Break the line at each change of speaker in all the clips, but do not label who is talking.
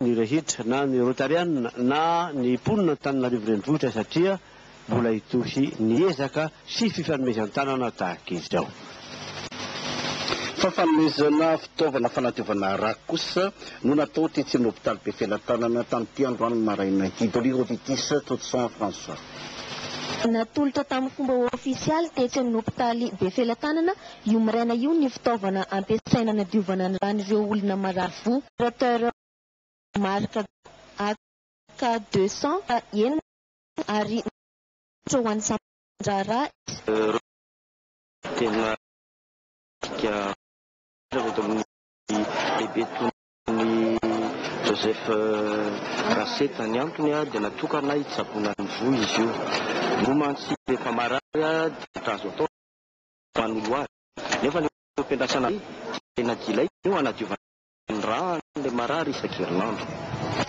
ny rehetra na ny rotarianina na ny mponina Antananarivo Renivohitra satria mbola hitohy ny ezaka sy fifanomezan-tanana tahaka izao.
Fafanomezana fitaovana fanadiovana rà kosa no natao tetsy amin'ny hopitaly Befelatanana tamin'ity androany maraina ity. Doligro Vitis, Todson François.
Natolotra tamin'ny fomba ofisialy tetsy amin'ny hopitaly Befelatanana Io maraina io ny fitaovana ampiasaina hanadiovana ny ran'ireo olona marary fo. Opérateur marika AK deux cents fa eny marina ary misaotra ho an'ny sampan-draharaha eto. Rose,
tena midika anareo eto amin'ny Bebe Tonon'i Joseph Raseta. Ny antony dia natokana hitsaboana ny voa izy io. Ny voa mantsy rehefa marary dia ohatra azo atao ho an'ny loary. Nefa ilay fampiandrasana be dia tena dilay eo hanadiovana ny ra an'ilay marary isan-kerinandro.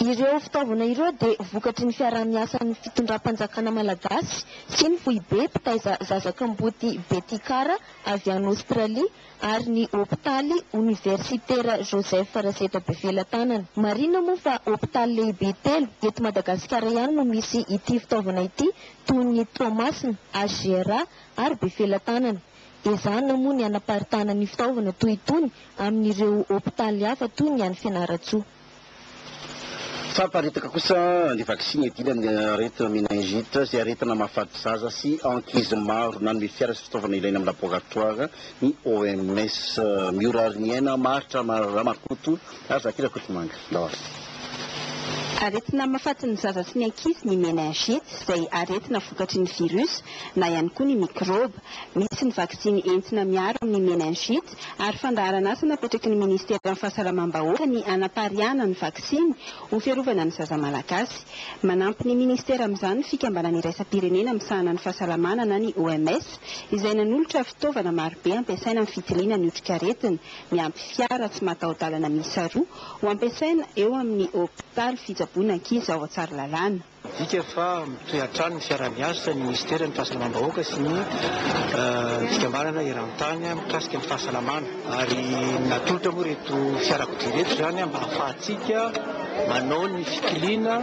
Ireo
fitaovana ireo dia vokatry ny fiaraha-miasan'ny fitondram-panjakana malagasy sy ny foibe mpitaiza zaza kamboty Betikara avy any Aostralia ary ny hopitaly oniversitera Joseph Raseta Befelatanana. Marihina moa fa hopitaly lehibe telo eto Madagasikara ihany no misy ity fitaovana ity toy ny Toamasina, HGRA, ary be felatanana. Ezahina moa ny hanaparitahana ny fitaovana toy itony amin'ireo hopitaly hafa toy ny any Fianarantsoa.
Famparitaka kosa ny vaksiny hiadiana amin'ny aretina meningite izay aretina mahafaty zaza sy ankizy maro. Nanome fiara sy fitaovana ilaina amin'ny laboratoara ny OMS. Miora ary ny aina, maharitra Ramakoto. Ary za ty Rakotomanga d'or.
Aretina mahafaty ny zaza sy ny ankizy ny meningite izay aretina vokatry ny virus na ihany koa ny mikrôba. Misy ny vaksiny entina miaro amin'ny meningite ary fandaharan'asa napetraky ny Ministeran'ny Fahasalamam-bahoaka ny hanapariahana ny vaksiny ho fiarovana ny zaza malagasy. Manampy ny Ministera amin'izany ny Fikambanana Iraisam-pirenena misahana ny Fahasalamana na ny OMS izay nanolotra fitaovana marobe ampiasaina amin'ny fitiliana ny otrikaretina miampy fiara tsy mataho-dalana miisa roa ho ampiasaina eo amin'ny hopitaly fitsaboana ankizy ao Tsaralalàna. Midika fa
mitohy hatrany ny fiaraha-miasa ny minisiteran'ny Fahasalamam-bahoaka sy ny fikambanana eran-tany mikasika ny fahasalamana ary natolotra moa ireto fiarakodia ireto izany mba hahafahantsika manao ny fikiliana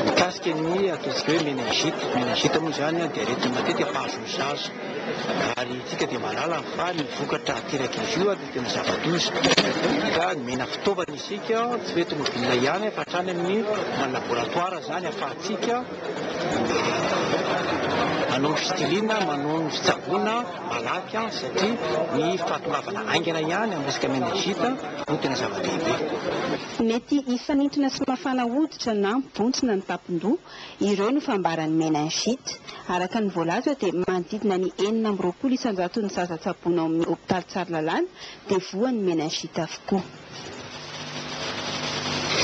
mikasika ny ataontsika hoe meningite. Ny meningite moa izany dia aretina matetika mpahazo ny zaza. Ary isika dia mahalala fa ny vokatra aterak'izy io dia ny zava-doza. Ka nomena fitaovana isika, tsy hoe eto Movina ihany fa hatrany amin'ny any laboratoara izany ahafahantsika manao ny fitilina, manao ny fitsaboana malaky satria ny fahatongavana haingana ihany amin'ny resaka meningite no tena zava-dehibe. Mety
hifanintona sy mafana hoditra na mibontsina ny tampon-doha Ireo no fambaran'ny meningite. Araka ny voalaza dia manodidina ny enina amby roapolo isan-jaton'ny zaza tsaboina ao amin'ny hopitaly Tsaralalàna dia voan'ny meningite avokoa.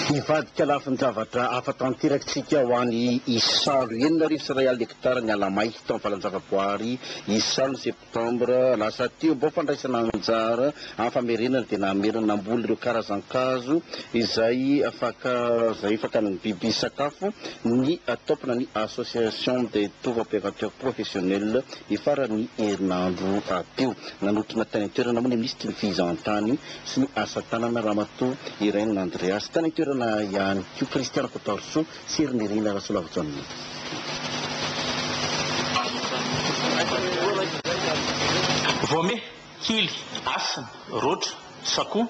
Hivadika lafin-javatra hafa tanteraka isika ho an'i Isalo. Enina arivo sy iray alina hektara ny ala may tao amin'ny valan-javaboahary Isalo ny Sept. Septambra lasa teo, bao fandraisana anjara amin'ny famerenana dia namerina namboly ireo karazan-kazo izay afaka izay fakan'ny biby sakafo ny tampona ny Association des Tour-opérateurs Professionnels ny faran'ny herinandro teo. Nanotrona tany an-toerana moa ny Minisitry ny Fizahantany sy ny Asa Tanana Ramatoa Irène Andreas. Tany an-toerana ihany koa Christian Rakotoarisoa, Tsiry Nirina Rasolavojanona.
Voame, kily, hasina, roatra, sakoa,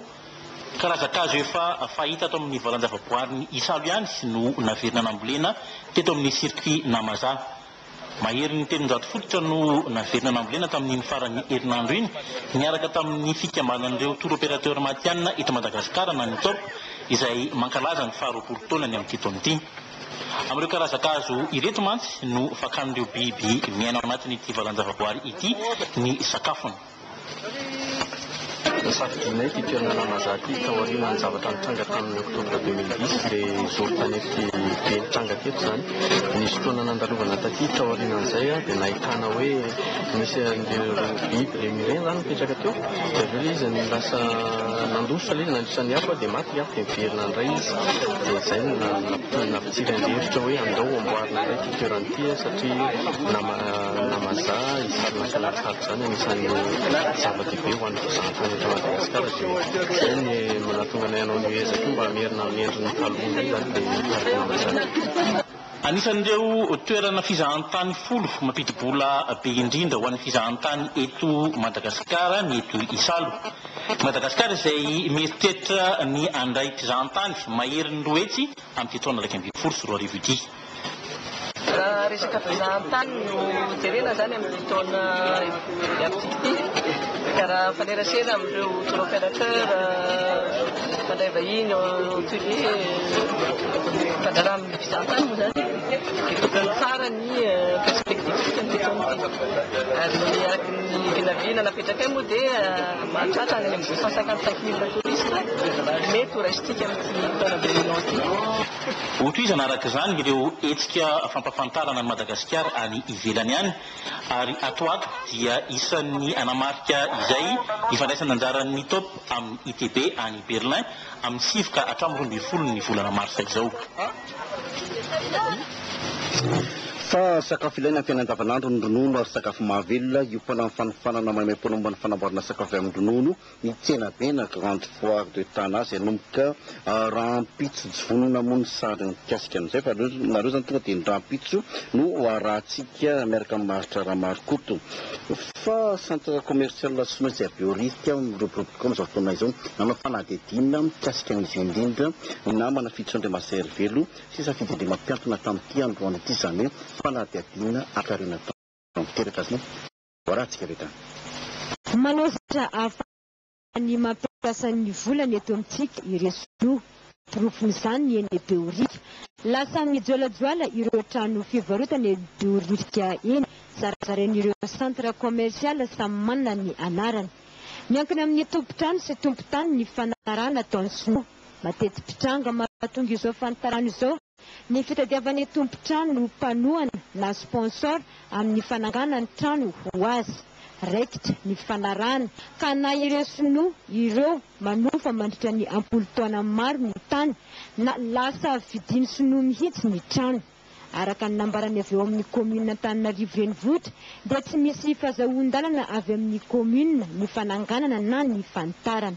karazan-kazo efa fahita ato amin'ny valan-javaboarin'i Isalo ihany no naverina nambolena teto amin'ny circuit Namazaha. Maherin'ny telonjato fototra no naverina nambolena tamin'iny faran'ny herinandro iny, niaraka tamin'ny fikambanan'ireo Tour Opérateur matihanina eto Madagasikara na ny Top, izay mankalaza ny faharoapolo taonany amin'ity taona ity. Amin'ireo karazan-kazo ireto mantsy no fakan'ireo biby miaina ao anatin'ity valan-javaboary ity ny sakafony.
Nosafidianay ity toerana Lamazah ity tao aorianan'ny zavatra nitranga tamin'ny Octobre 2010, ilay zoro-tanety be nitranga teto izany. Nisy fotoana nandalovana taty tao aorianan'izay aho dia nahitana hoe nisy an'ireo biby remireny izany nipetraka teo, dia avy eo ilay izy lasa nandositra ilay izy nandritra ny afo dia maty ilay afo dia niverina indray izy. Dia izay no nampitombo nampitsiry an'ilay hevitra hoe andao amboarina indray ity toerana ity satria Lamazah hisarona an'ireo tsaritsara. Izany anisan'ny zava-dehibe ho an'ny fizahantany eto Madagasikara dia izay ny manatonga anay hanao an'io ezaka io mba hamerina amin'ny endriny taloha indray izany ilay Cardinal izany. Anisan'ireo
toerana fizahantany folo mampidi-bola be indrindra ho an'ny fizahantany eto Madagasikara ny eto Isalo. I Madagasikara izay mieritreritra ny handray mpizahantany maherin'ny roa hetsy amin'ity taona iraika ambin'ny folo sy roa arivo ity.
Raha resaka fizahantany no jerena izany amin'ity taona hiavidy ity dia raha mifanerasera amin'ireo tour opérateur mpandray vahiny hotelier mifandraraha amin'ny fizahantany moa izany dia tokony tsara ny perspective an'ity taona ity ary araka ny vinavina napetrakay moa dia mahatratra any amin'ny deux cent cinquante cinq mille touristes mety ho raisintsika amin'ity taona velona ity Hotohizana
araka izany ireo hetsika fampafantarana an'i Madagasikara any ivelany any ary ato ato dia isan'ny hanamarika izay ny fandraisana anjaran'ny Top amin'ny ITB any Berlin amin'ny sivy ka hatramin'ny roa ambin'ny folo ny volana marsa izao.
Fa sakafo ilaina amin'ny fiainana andavanandro ny ronono ary sakafo mahavelona, iompana amin'ny fanofanana maimaimpoana momba ny fanamboarana sakafo avy amin'ny ronono, Ny tsenabe na grande foire de Tana izay hanomboka rahampitso jona moa ny sary mikasika an'izay fa nareo izany tonga dia ny rahampitso no harahantsika miaraka amin'i Maharitra Ramarokoto fa centre commercial tsy maintsy avy eo rivotra miroborobo tokoa amin'izao fotoana izao nanao fanadihadiana mikasika an'izy io indrindra ny namana Fijo Andriamasaherivelo sy Safidy Andriamampiantona tamin'ity androany ity izany hoe fanadihadiana hakarina tamin'ny tanteraka sy ny voaradika avy hatrany. Manao
zavatra hafa ny mampiasa ny volany eto amintsika ireo sinoa. Porofon'izany ny eny Behoririka. Lasa mijoalajoala ireo trano fivarotana eny Behoririka eny. Zarazarain'ireo centre commercial samy manana ny anarany. Miankina amin'ny tompon-trano sy tompon-tany ny fanarahana ataon'ny sinoa. Mateti-pitranga mahatonga izao fanitarana izao. Ny fitadiavany tompon-trano no mpanohana na sponsor amin'ny fanangana ny trano ho azy. Raikitra ny fifanarahana ka na ireo sinoa ireo manofa mandritra ny am-polo taona maro ny tany na lasa vidin'ny sinoa mihitsy ny trano. Araka ny nambarany avy ao amin'ny kaominina Antananarivo Renivohitra dia tsy misy fazahoan-dalana avy amin'ny kaominina ny fananganana na ny fanitarana.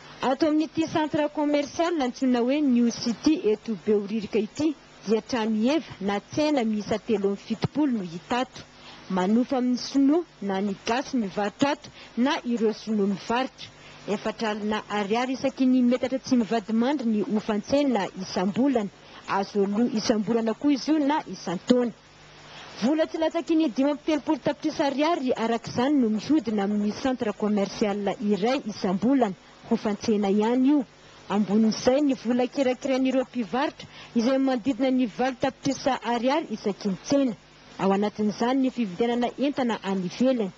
Ato amin'ity centre commercial antsoina hoe New City eto Behoririka ity dia trano heva na tsena miisa telo amby fitopolo no hita ato. Manofa amin'ny sinoa na ny gasy mivarotra ato na ireo sinoa mivarotra. Efatra alina ariary isaky ny metatra tsy mivadimandry ny hofan-tsena isam-bolana. Azo aloa isam-bolana koa izy io na isan-taona. Vola tsy latsaky ny dimy amby telopolo tapitrisa ariary araka izany no mihodina amin'ny centre commercial iray isam-bolana, hofan-tsena ihany io. Ambonin'izay ny vola kirakirain'ireo mpivarotra izay manodidina ny valo tapitrisa ariary isaky ny tsena. Ao anatin'izany ny fividianana entana any ivelany.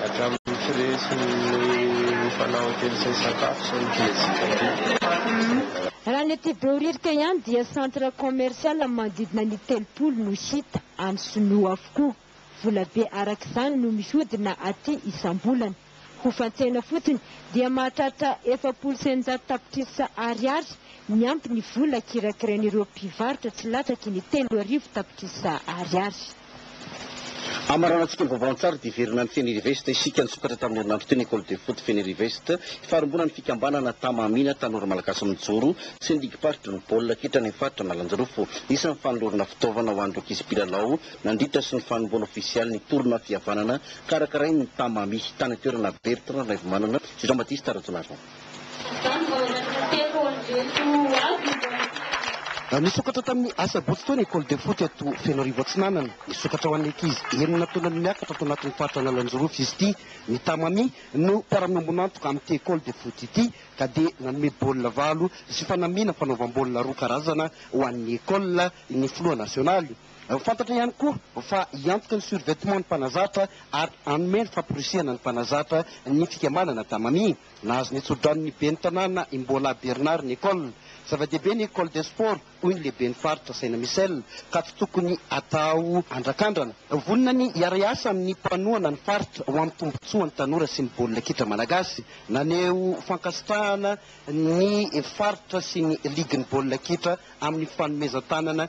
Hatramin'ny firesin'ny mifanao an-kevitra hisakafo sy ny fihetsik'aliaka. Raha ny aty
Behoririka ihany dia centre commercial manodidina ny telopolo no hita any sinoa avokoa. Volabe araka izany no mihodina aty isam-bolana. Ho fantsaina fotsiny dia mahatratra efapolo sy eninjato tapitrisa Ariary miampy ny vola kirakirain'ireo mpivarotra tsy latsaky ny telo arivo tapitrisa Ariary.
Hamaranantsika ny vaovao an-tsary dia hiverina any Fenirivest isika. Nisokatra tamin'ny herinandro teo ny Ecole de Foot Fenirivest, farimbonan'ny fikambanana Tama Amina, tanora malagasy mijoro sy ny ligim-paritry ny baolina kitra any amin'ny faritra Analanjirofo. Isan'ny fanolorana fitaovana ho an'ireo ankizy mpilalao nandritra sy ny fanombohana ofisialy ny tolona fihavanana Karakarain'ny Tamami, tany an-toerana, Bertrand Raivomanana sy Jean-Baptiste Rajaonarison.
Nisokatra tamin'ny Asabotsy teo ny Ecole de Foot eto Fenoarivo Atsinanana. Nisokatra ho an'ny ankizy enina taona no miakatra ato anatin'ny faritra Analanjirofo izy ity. Ny Tamami no mpiara-miombon'antoka amin'ity Ecole de Foot ity ka dia nanome baolina valo sy fanamiana fanaovam-baolina roa karazana ho an'ny Ecole ny filoha nasionaly. Ho fantatra ihany koa fa hiantoka ny survetement ny mpanazatra ary hanome ny famporisihana ny mpanazatra ny fikambanana Tamami. Nahazo ny tsodraonon'ny ben'ny tanàna i Mbola Bernard ny Ecole. Zava-dehibe ny Ecole des Sports hoy ny lehiben'ny faritra Saina Michel ka tsy tokony atao andrakandrana. Vonona ny hiara-hiasa amin'ny mpanohana ny faritra ho amin'ny tombontsoan'ny tanora sy ny baolina kitra malagasy. Naneho fankasitrahana ny faritra sy ny ligin'ny baolina kitra amin'ny fanomezan-tanana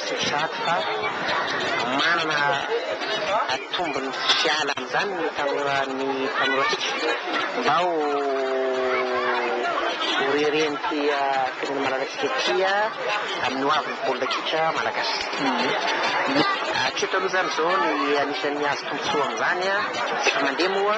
Tsy izaho fa manana atombony fiala amin'izany ny tanora ny tanorantsika mba ho ho reren'ity firenena malalantsika ity amin'ny hoavin'ny baolina kitra malagasy. Hatreto aloha izany izao ny anisan'ny azo tombontsoa amin'izany tsy efa mandeha moa.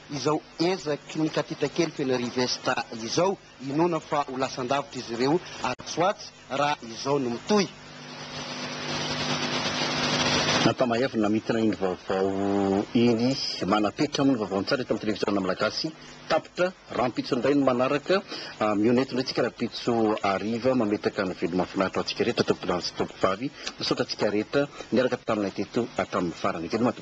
Izao ezaky ny katita kely feno Rivesta izao, inoana fa ho lasan-davitra izy ireo atsy ho atsy raha izao no mitohy.
Ankamaheazny namintina iny vaovao iny, manapetra moa ny vaovao an-tsary eto amin'ny televiziona malagasy. Tapitra rahampitso indray ny manaraka, mihaona eto indray isika rahampitso hariva, mametraka ny veloma mahafinaritra ho antsika rehetra, tompo lahy sy tompo vavy. Misaotra antsika rehetra niaraka taminay teto hatramin'ny farany. Veloma.